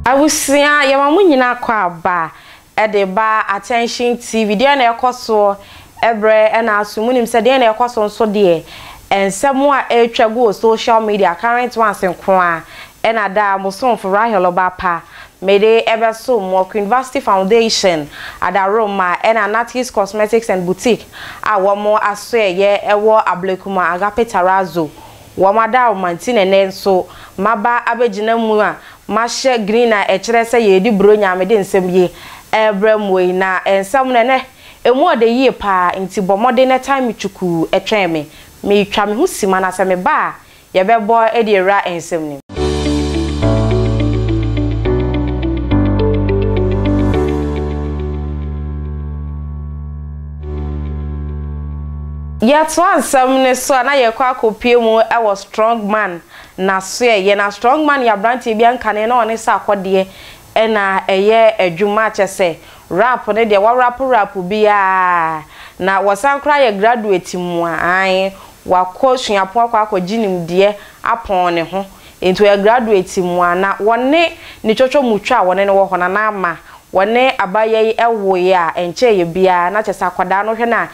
Abusua yɛma mo nyina kɔ aba de ba Attention TV deɛ na ɛkɔ soɔ ɛbrɛ ɛna aso mo nim sɛ deɛ na ɛkɔ so nso deɛ ɛnsɛm a ɛretwa gu wɔ social media current ones nkoaa Ɛna daa mo somfo Rahel Ɔbapa mede ɛbɛsom mo Ɔko University Foundation Adaworoma ɛna Natty's Cosmetics and Boutique a wɔn asoɛyɛ ɛwɔ Ablekuma Agape Tarazo wɔn adaworoma nti na ɛnɛ nso maba abɛgyina mu a mahyɛ green a ɛkyerɛ sɛ yɛredi Buronya mede nsɛm yi ɛrebrɛ mo yi na nsɛm no ɛnɛ ɛmu ɔdɛ yie paa nti bɔ mmɔden na ɛtan me kyukuu ɛtwɛn me meretwa me ho sima na sɛ meba a Yɛbɛbɔ de awura nsɛm no mu. Yɛtoa nsɛm no so a, na yɛkɔ akɔpue mu wɔ Strongman n'asoɛeɛ. Na Strongman yɛ aberanteɛ bi a nkane na ɔne sɛ akɔdeɛ Ɛna ɛyɛ adwuma akyɛ sɛ rap no deɛ wɔarapo rap biaa na wɔsan koraa yɛ graduate mu a aane wakɔ suapɔn akɔ akɔgye nimdeɛ apɔn ne ho nti ɔyɛ graduate mu a na wɔne ne twɔtwɔ mu twa a wɔne no wɔ hɔ na na ama wɔne abayɛ yi woeɛ a ɛnkyɛeɛ biaa na kyɛsɛ akwadaa no wohwɛ no a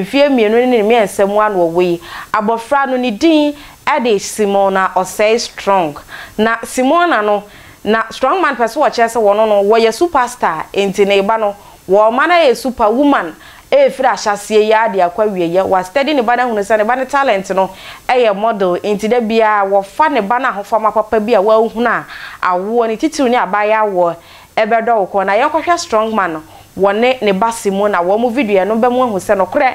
mfeɛ mmienu ne ne mmiɛnsa mu a na wɔwɔ yi abɔfra no ne din de Simona Osei Strong na Simona no Na strong man pɛ sɛ wɔkyerɛ sɛ wɔno no wɔyɛ super star nti ne ba no wɔma no ayɛ super woman ɛfiri ahyɛaseɛ yi ara de akɔ awieɛ. Wa study ne ba no ahunu sɛ ne ba no talent no yɛ model nti da biara wɔfa ne ba no ahofama papa bi a wahunu a awoɔ no titiriw ne abaayewa awoɔ bɛdɔ wo kɔn. Na yɛnkɔhwɛ strong man no wɔne ne ba se mu na wɔn videoɛ no bɛmo ahu sɛ nokorɛ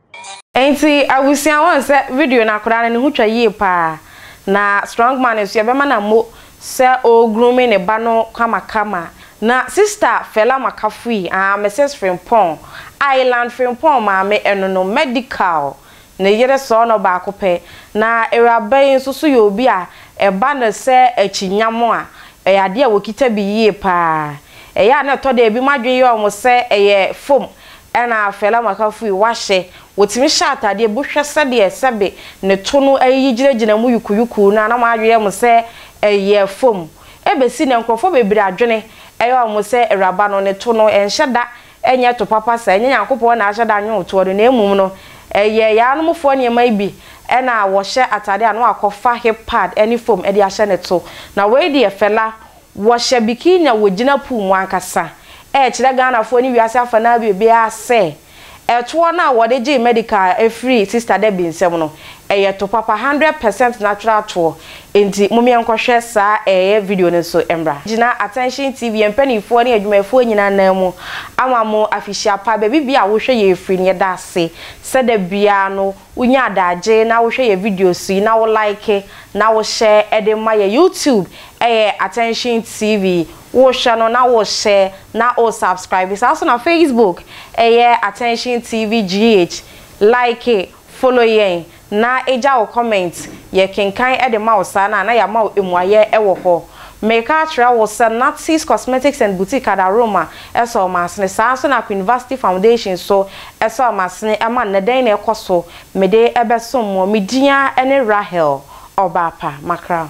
Enti abusua woahu sɛ video no akwadaa no ne ho twa yie paa na strong man nso yɛbɛma no ammo sɛ ɔɔ grooming ne ba no kamakama na sister Fela Makafui aah Mrs Frimpong Island Frimpong maame ɛno no medical ne yere sɔɔ no baako pɛ na awuraba yi nso so yɛ obi a ɛba no sɛ akyinya mo a ɛyɛ adeɛ a wɔkita bi yie paa ɛyɛ a na ɛtɔ da bi mo adwene yɛ wɔn sɛ ɛyɛ fom Ɛna afɛe la maka fui wahyɛ wɔtumi hyɛ ataadeɛ bu hwɛ sɛdeɛ sɛbe ne to no ayiyi gyinagyina mu yukuyuku na na m'adweyɛ mo sɛ ɛyɛ fom ɛbɛsi nɛ nkorɔfoɔ bebree adwene ɛyɛ ɔmo sɛ awuraba no ne to no ɛnhyɛ da ɛnyɛ to papa saa ɛnyɛ Nyankopɔn na ahyɛ da nwoɔ toɔ no na mmom no ɛyɛ yɛanom foɔ nneɛma yi bi ɛna wɔhyɛ ataadeɛ a na wakɔ fa hip pad ɛne fom ɛde ahyɛ ne to na wei deɛ fɛla Wɔhyɛ bikini a wɔgyina pool mu ankasa rekyerɛ Ghanafoɔ ne wiase afanaa biribiara sɛ ɛtoɔ no a wɔde gyee medical firi Sista Debbie nsam no, ɛyɛ to papa, hundred percent natural toɔ. Enti mom yɛnkɔhwɛ saa ɛɛyɛ video no nso mmra. Gyina Attention TV, yɛn mpaninfoɔ ne adwumayɛfoɔ nyinaa nan mu ama mo afihyia pa. Baabi biara a wohwɛ yɛn firi no, yɛda ase sɛ da biara no Wonya adagye na wohwɛ yɛ videos yi na wo like na wo share de ma yɛ YouTube ɛyɛ Attention TV wohwɛ no na wo share na wo subscribe saa nso na Facebook ɛyɛ Attention TV GH like follow yɛn na gya wo comment yɛ kenkan de ma wo saa no a na yɛama wo mmuaeɛ wɔ hɔ. Meka akyerɛ wo sɛ Natty's Cosmetics and Boutique Ada Roma sɔɔ m'asene. Saa ara nso na Queen Vashti Foundation nso sɔɔ m'asene ma nnɛ. Dɛn na ɛkɔ so? Mede bɛsom mo. Me din ara ne Rahel Ɔbaapa Makra.